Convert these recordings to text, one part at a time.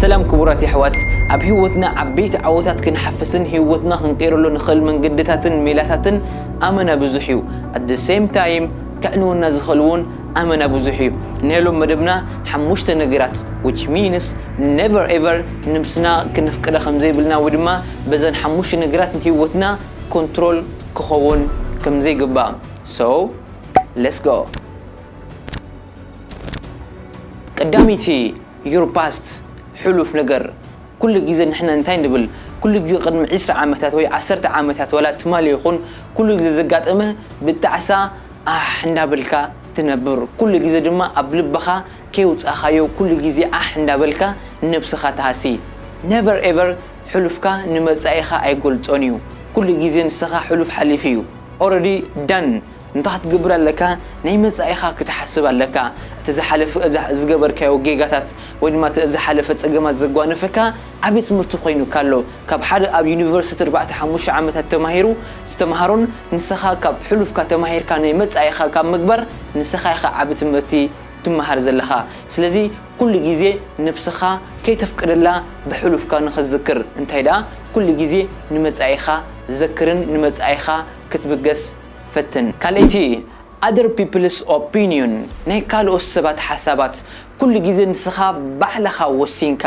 ሰላም ክቡራት የሕዋት ኣብ ሂወትና ዓበይቲ ዓወታት ክንሓፍስን ሂወትና ክንቅይረሉ ንክእል መንገድታትን ሜላታትን ኣመና ብዙሕ እዩ ኣት ዘ ሰይም ታይም ከዕንወና ዝክእል ውን ኣመና ብዙሕ እዩ ናይ ሎም መደብና ሓሙሽተ ነገራት ዊች ሚንስ ነቨር ኤቨር ንብስና ክነፍቅዳ ከምዘይብልና ወይ ድማ በዘን ሓሙሽተ ነገራት ሂወትና ኮንትሮል ክከውን ከምዘይግባእ ሰው ለስ ጎ ቀዳመይቲ Your past ሕሉፍ ነገር ኩሉ ግዜ ንሕና እንታይ ንብል ኩሉ ግዜ ቅድሚ ዕስራ ዓመታት ወይ ዓሰርተ ዓመታት ዋላ ትማሊ ይኹን ኩሉ ግዜ ዘጋጠመ ብጣዕሳ ኣሕ እንዳበልካ ትነብር ኩሉ ግዜ ድማ ኣብ ልብኻ ከየውጻኻዮ ኩሉ ግዜ ዓሕ እንዳበልካ ንነብስኻ ትሃሲ never ever ሕሉፍካ ንመጻኢኻ ኣይገልጾን እዩ ኩሉ ግዜ ንስኻ ሕሉፍ ሓሊፉ እዩ already done እንታይ ክትገብር ኣለካ ናይ መጻኢኻ ክትሓስብ ኣለካ እቲ ዝሓለፈ እዛ ዝገበርካዮ ጌጋታት ወይ ድማ እቲ ዝሓለፈ ጸገማት ዘጓነፈካ ዓቢ ትምህርቲ ኮይኑካ ኣሎ ካብ ሓደ ኣብ ዩኒቨርሲቲ ኣርባዕተ ሓሙሽተ ዓመታት ተማሂሩ ዝተማሃሮን ንሰኻ ካብ ሕሉፍካ ተማሂርካ ናይ መጻኢኻ ካብ ምግባር ንሰኻ ኢኻ ዓቢ ትምህርቲ ትማሃር ዘለኻ ስለዚ ኩሉ ግዜ ነብስኻ ከይተፍቅደላ ብሕሉፍካ ንኽትዝክር እንታይ ደኣ ኩሉ ግዜ ንመጻኢኻ ዘክርን ንመጻኢኻ ክትብገስ ፈትን። ካልኣይቲ፣ Other People's Opinion፣ ናይ ካልኦት ሰባት ሓሳባት፣ ኩሉ ግዜ ንስኻ ባዕልኻ ወሲንካ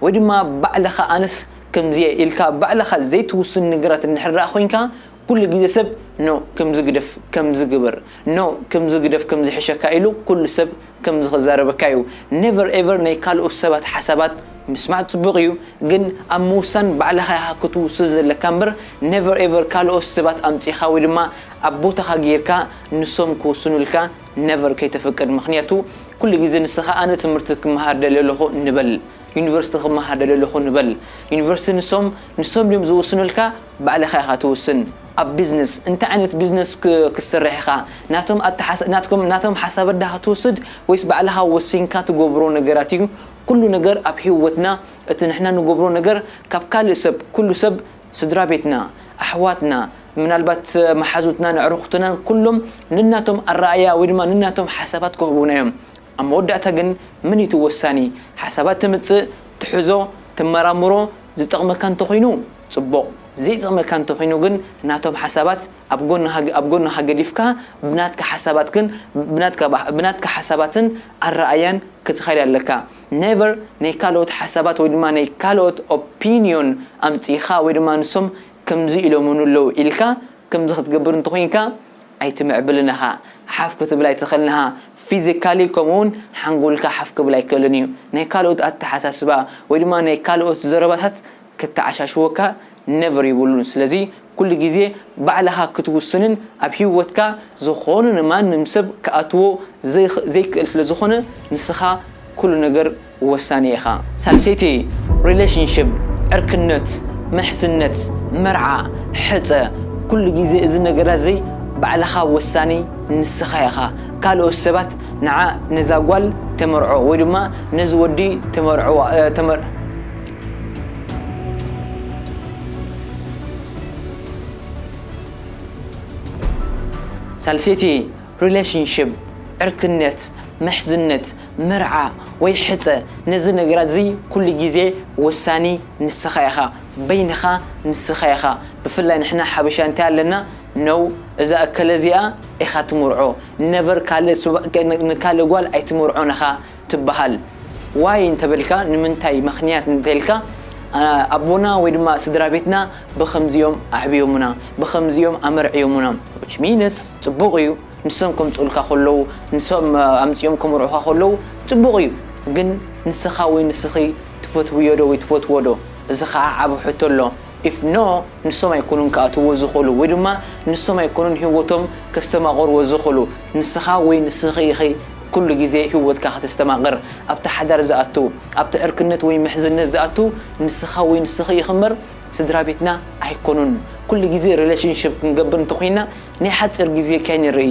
ወይ ድማ ባዕልኻ ኣነስ ከምዚ'የ ኢልካ ባዕልኻ ዘይትውስን ነገራት እንድሕር ደኣ ኮይንካ፣ ኩሉ ግዜ ሰብ፣ No፣ ከምዚ ግደፍ ከምዚ ግበር፣ No፣ ከምዚ ግደፍ ከምዚ ይሕሸካ ኢሉ ኩሉ ሰብ ከምዚ ክዛረበካ እዩ ነቨር ኤቨር ናይ ካልኦት ሰባት ሓሳባት ምስማዕ ጽቡቅ እዩ ግን ኣብ ምውሳን ባዕልኻ ኢኻ ክትውስን ዘለካ እምበር ነቨር ኤቨር ካልኦት ሰባት ኣምጺኻ ወይ ድማ ኣብ ቦታኻ ጌርካ ንሶም ክውስኑልካ ነቨር ከይተፍቅድ ምኽንያቱ ኩሉ ግዜ ንስኻ ኣነ ትምህርቲ ክመሃር ደልየ ኣለኹ ንበል ዩኒቨርሲቲ ክመሃር ደልየ ኣለኹ ንበል ዩኒቨርሲቲ ንሶም ንሶም ድዮም ዝውስኑልካ ባዕልኻ ኢኻ ትውስን ኣብ ቢዝነስ እንታይ ዓይነት ቢዝነስ ክትሰርሕ ኢኻ ናቶም ኣተሓሳ ናትኩም ናቶም ሓሳባት ዳኻ ትውስድ ወይስ ባዕልኻ ወሲንካ ትገብሮ ነገራት እዩ ኩሉ ነገር ኣብ ሂወትና እቲ ንሕና ንገብሮ ነገር ካብ ካልእ ሰብ ኩሉ ሰብ ስድራቤትና ኣሕዋትና ምናልባት መሓዙትናን ኣዕሩኹትናን ኩሎም ነናቶም ኣረኣእያ ወይ ድማ ነናቶም ሓሳባት ክህቡና እዮም ኣብ መወዳእታ ግን መን እዩ እቲ ወሳኒ ሓሳባት ተምጽእ ትሕዞ ተመራምሮ ዝጠቕመካ እንተኾይኑ ጽቡቕ ዘይጠቕመካ እንተኾይኑ ግን ናቶም ሓሳባት ኣብ ጎንኻ ኣብ ጎንኻ ገዲፍካ ብናትካ ሓሳባት ግን ብናትካ ብናትካ ሓሳባትን ኣረኣእያን ክትኸድ ኣለካ never ናይ ካልኦት ሓሳባት ወይ ድማ ናይ ካልኦት ኦፒንዮን ኣምጺእኻ ወይ ድማ ንሶም ከምዚ ኢሎሙኒ ኣለዉ ኢልካ ከምዚ ክትገብር እንተኾይንካ ኣይትምዕብልን ኢኻ ሓፍ ክትብል ኣይትኽእልን ኢኻ ፊዚካሊ ከምኡ ውን ሓንጎልካ ሓፍ ክብል ኣይክእልን እዩ ናይ ካልኦት ኣተሓሳስባ ወይ ድማ ናይ ካልኦት ዘረባታት ከተዓሻሽወካ never ይብሉን ስለዚ ኩሉ ግዜ ባዕልኻ ክትውስንን ኣብ ሂወትካ ዝኾነ ንማንም ሰብ ክኣትዎ ዘይክእል ስለ ዝኾነ ንስኻ ኩሉ ነገር ወሳኒ ኢኻ። ሳልሰይቲ relationship ዕርክነት ምሕዝነት መርዓ ሕጸ ኩሉ ግዜ እዚ ነገራት እዚ ባዕልኻ ወሳኒ ንስኻ ኢኻ ካልኦት ሰባት ንዓ ነዛ ጓል ተመርዖ ወይ ድማ ነዚ ወዲ ተመርዕዋ። ሳልሰይቲ ሪለሽንሽፕ፣ ዕርክነት፣ ምሕዝነት፣ መርዓ ወይ ሕጸ ነዚ ነገራት እዚ ኩሉ ግዜ ወሳኒ ንስኻ ኢኻ በይንኻ ንስኻ ኢኻ ብፍላይ ንሕና ሓበሻ እንታይ ኣለና no እዛ እከለ እዚኣ ኢኻ ትምርዖ never ካልእ ንካልእ ጓል ኣይትምርዖን ኢኻ ትብሃል ዋይ እንተበልካ ንምንታይ ምክንያት እንተልካ ኣቦና ወይ ድማ ስድራቤትና ብከምዚ እዮም ኣዕብዮሙና ብከምዚ እዮም ኣመርዕዮሙና which means ጽቡቅ እዩ ንሶም ከምጽኡልካ ከለዉ ንሶም ኣምጺኦም ከምርዑካ ከለዉ ጽቡቅ እዩ ግን ንስካ ወይ ንስኪ ትፈትውዮ ዶ ወይ ትፈትዎ ዶ እዚ ከኣ ዓቢ ሕቶ ኣሎ ኢፍ ኖ ንሶም ኣይኮኑን ክኣትውዎ ዝኽእሉ ወይ ድማ ንሶም ኣይኮኑን ሂወቶም ከስተማቕርዎ ዝኽእሉ ንስኻ ወይ ንስኺ ኢኺ ኩሉ ግዜ ሂወትካ ከተስተማቕር ኣብቲ ሓዳር ዝኣቱ ኣብቲ ዕርክነት ወይ ምሕዝነት ዝኣቱ ንስኻ ወይ ንስኺ ኢኺ እምበር ስድራቤትና ኣይኮኑን ኩሉ ግዜ ሪለሽንሽፕ ክንገብር እንተኾይና ናይ ሓጺር ግዜ ከይንርኢ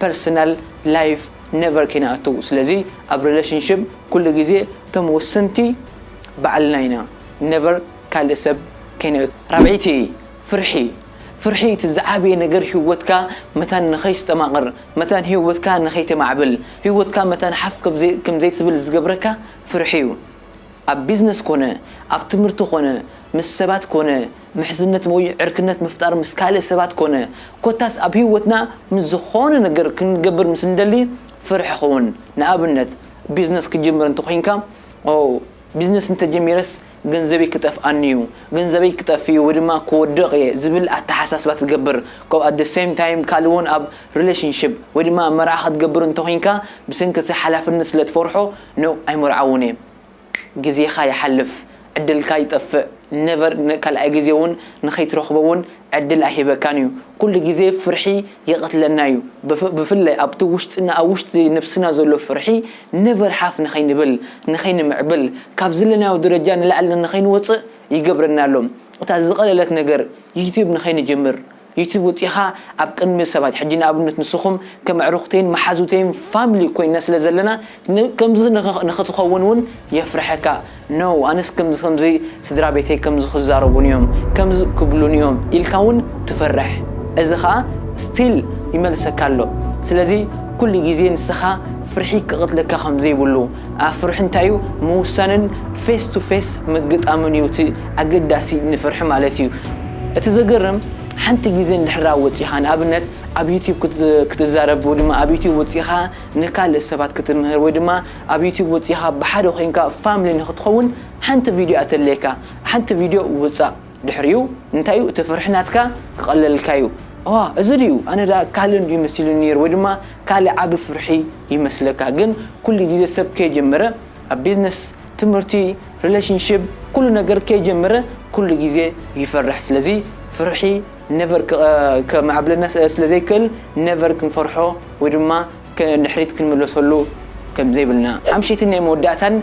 ፐርሰናል ላይፍ ነቨር ከይንኣቱ ስለዚ ኣብ ሪለሽንሽፕ ኩሉ ግዜ እቶም ወሰንቲ ባዕልና ኢና ነቨር ካልእ ሰብ ከይነእቱ። ራብዐይቲ ፍርሒ ፍርሒ እቲ ዝዓበየ ነገር ሂወትካ መታን ንኸይስተማቕር መታን ሂወትካ ንኸይተማዕብል ሂወትካ መታን ሓፍ ከም ዘይትብል ዝገብረካ ፍርሒ'ዩ ኣብ ቢዝነስ ኮነ ኣብ ትምህርቲ ኮነ ምስ ሰባት ኮነ ምሕዝነት ወይ ዕርክነት ምፍጣር ምስ ካልእ ሰባት ኮነ ኮታስ ኣብ ህይወትና ምስ ዝኾነ ነገር ክንገብር ምስ እንደሊ ፍርሒ ኹን ንኣብነት ቢዝነስ ክትጅምር እንተኾይንካ ኦው ቢዝነስ እንተጀሚረስ ገንዘበይ ክጠፍኣኒዩ ገንዘበይ ክጠፍእዩ ወይ ድማ ክወድቕ እየ ዝብል ኣተሓሳስባ ትገብር ከምኡ ኣት ሰይም ታይም ካልእ ውን ኣብ ሪሌሽንሽፕ ወይ ድማ መርዓ ክትገብር እንተኾይንካ ብሰንኪ እቲ ሓላፍነት ስለ ትፈርሖ ን ኣይምርዓውን እየ ግዜኻ ይሓልፍ ዕድልካ ይጠፍእ never ካልኣይ ግዜ ውን ንኸይትረኽቦ ውን ዕድል ኣይህበካን እዩ ኩሉ ግዜ ፍርሒ ይቐትለና እዩ ብፍላይ ኣብቲ ውሽጥና ኣብ ውሽጢ ነብስና ዘሎ ፍርሒ never ሓፍ ንኸይንብል ንኸይንምዕብል ካብ ዘለናዮ ደረጃ ንላዕሊ ንኸይንወጽእ ይገብረና ኣሎ እታ ዝቐለለት ነገር ዩቱብ ንኸይንጅምር ዩቱብ ወጺእኻ ኣብ ቅድሚ ሰባት ሕጂ ንኣብነት ንስኹም ከም ኣዕሩኽተይን መሓዙተይን ፋምሊ ኮይንና ስለ ዘለና ከምዚ ንኽትኸውን ውን የፍርሐካ no ኣነስ ከምዚ ከምዚ ስድራቤተይ ከምዚ ክዛረቡኒ እዮም ከምዚ ክብሉኒ እዮም ኢልካ ውን ትፈርሕ እዚ ኸኣ still ይመልሰካ ኣሎ ስለዚ ኩሉ ግዜ ንስኻ ፍርሒ ክቐትለካ ከም ዘይብሉ ኣፍርሒ እንታይ እዩ ምውሳንን ፌስ ቱ ፌስ ምግጣምን እዩ እቲ ኣገዳሲ ንፍርሒ ማለት እዩ እቲ ዘገርም ሓንቲ ግዜ እንድሕራ ወጺኻ ንኣብነት ኣብ ዩቲብ ክትዛረብ ወይ ድማ ኣብ ዩቲብ ወጺኻ ንካልእ ሰባት ክትምህር ወይ ድማ ኣብ ዩቲብ ወጺኻ ብሓደ ኮይንካ ፋምሊ ንክትኸውን ሓንቲ ቪድዮ እያ ተድልየካ ሓንቲ ቪድዮ ውጻእ ድሕሪኡ እንታይ እዩ እቲ ፍርሒ ናትካ ክቐለልካ እዩ እዋ እዚ ድዩ ኣነ ድኣ ካልእ እንድዩ መሲሉኒ ነይሩ ወይ ድማ ካልእ ዓቢ ፍርሒ ይመስለካ ግን ኩሉ ግዜ ሰብ ከይጀመረ ኣብ ቢዝነስ ትምህርቲ ሪሌሽንሺፕ ኩሉ ነገር ከይጀመረ ኩሉ ግዜ ይፈርሕ ስለዚ ፍርሒ ነቨር ከማዕብለና ስለዘይክእል ነቨር ክንፈርሖ ወይ ድማ ንድሕሪት ክንምለሰሉ ከም ዘይብልና። ሓምሽይትን ናይ መወዳእታን፣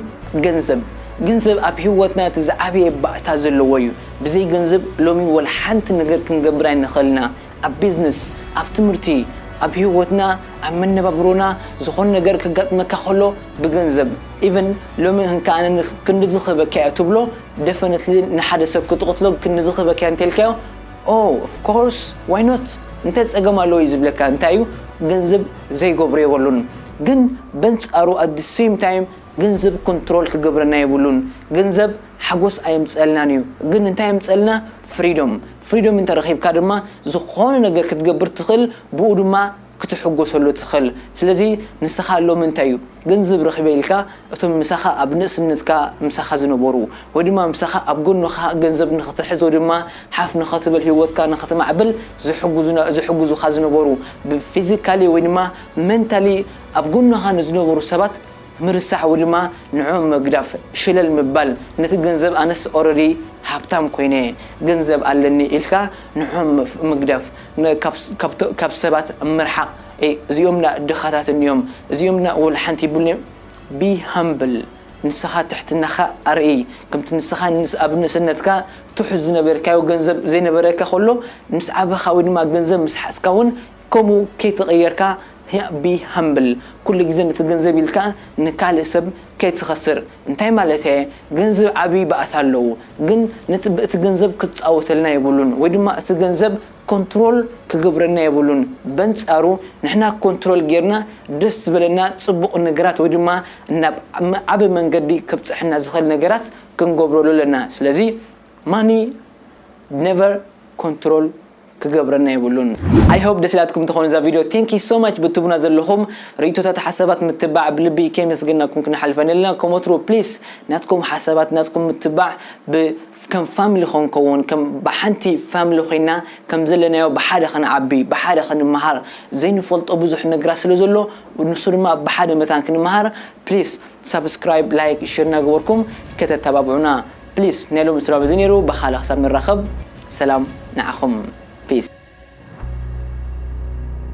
ገንዘብ። ገንዘብ ኣብ ህይወትና እቲ ዝዓበየ ባእታ ዘለዎ እዩ። ብዘይ ገንዘብ ሎሚ ዋላ ሓንቲ ነገር ክንገብር ኣይንኽእልና። ኣብ ቢዝነስ፣ ኣብ ትምህርቲ፣ ኣብ ህይወትና፣ ኣብ መነባብሮና ዝኾነ ነገር ከጋጥመካ ከሎ ብገንዘብ ኢቭን ሎሚ እንካ ኣነ ክንድዚ ክህበካ'የ ትብሎ ደፈነትሊ ንሓደ ሰብ ክትቕትሎ ክንድዚ ክህበካ'የ እንተኢልካዮ ኦው ኦፍ ኮርስ ዋይ ኖት እንታይ ጸገም ኣለዎ እዩ ዝብለካ እንታይ እዩ ገንዘብ ዘይገብሮ የበሉን ግን በንጻሩ ኣት ዲ ሰም ታይም ገንዘብ ኮንትሮል ክገብረና የብሉን ገንዘብ ሓጎስ ኣየምጸልናን እዩ ግን እንታይ የምጸልና ፍሪዶም ፍሪዶም እንተረኺብካ ድማ ዝኾነ ነገር ክትገብር ትኽእል ብኡ ድማ ክትሕጎሰሉ ትኽል ስለዚ ንስኻ ሎሚ እንታይ እዩ ገንዘብ ረኺበ ኢልካ እቶም ምሳኻ ኣብ ንእስነትካ ምሳኻ ዝነበሩ ወይ ድማ ምሳኻ ኣብ ጎንኻ ገንዘብ ንኽትሕዝ ወይ ድማ ሓፍ ንኽትብል ሂወትካ ንኽትማዕብል ዝሕጉዙና ዝሕጉዙኻ ዝነበሩ ብ ፊዚካሊ ወይ ድማ መንታሊ ኣብ ጎንኻ ንዝነበሩ ሰባት ምርሳዕ ወይ ድማ ንዕኦም ምግዳፍ ሽለል ምባል ነቲ ገንዘብ ኣነስ ኦረዲ ሃብታም ኮይነ ገንዘብ ኣለኒ ኢልካ ንዕኦም ምግዳፍ ካብ ሰባት ምርሓቅ እዚኦም ድኣ ድኻታት እንድዮም እዚኦም ድኣ ወላ ሓንቲ የብልንዮም be humble ንስኻ ትሕትናኻ ኣርእይ ከምቲ ንስኻ ኣብ ንእስነትካ ትሑት ዝነበርካዮ ገንዘብ ዘይነበረካ ከሎ ምስ ዓበኻ ወይ ድማ ገንዘብ ምስ ሓዝካ ውን ከምኡ ከይተቀየርካ be humble ኩሉ ግዜ ነቲ ገንዘብ ኢልካ ንካልእ ሰብ ከይትኸስር እንታይ ማለተየ ገንዘብ ዓቢ ባእታ ኣለዎ ግን ነቲ ብእቲ ገንዘብ ክጻወተልና የብሉን ወይ ድማ እቲ ገንዘብ ኮንትሮል ክገብረና የብሉን በንጻሩ ንሕና ኮንትሮል ጌርና ደስ ዝበለና ጽቡቕ ነገራት ወይ ድማ ናብ ዓቢ መንገዲ ከብጽሐና ዝኽእል ነገራት ክንገብረሉ ኣለና ስለዚ ማኒ ነቨር ኮንትሮል ክገብረና የብሉን። I hope ደስ ኢላትኩም ትኾን እዛ ቪድዮ Thank you so much ብትቡና ዘለኹም ሪኢቶታት ሓሳባት ምትባዕ ብልቢ ከየመስገናኩም ክንሓልፋ የንልና ከም ወትሩ please ናትኩም ሓሳባት ናትኩም ምትባዕ ብ ከም family ክንከውን ከም ብሓንቲ family ኮይና ከም ዘለናዮ ብሓደ ክንዓቢ ብሓደ ክንመሃር ዘይንፈልጦ ብዙሕ ነገራት ስለ ዘሎ ንሱ ድማ ብሓደ መታን ክንመሃር please subscribe like share እናገበርኩም ከተተባብዑና Please ናይ ሎሚ ስራብ እዚ ነይሩ ብካልእ ክሳብ ንራከብ ሰላም ንዓኩም Peace።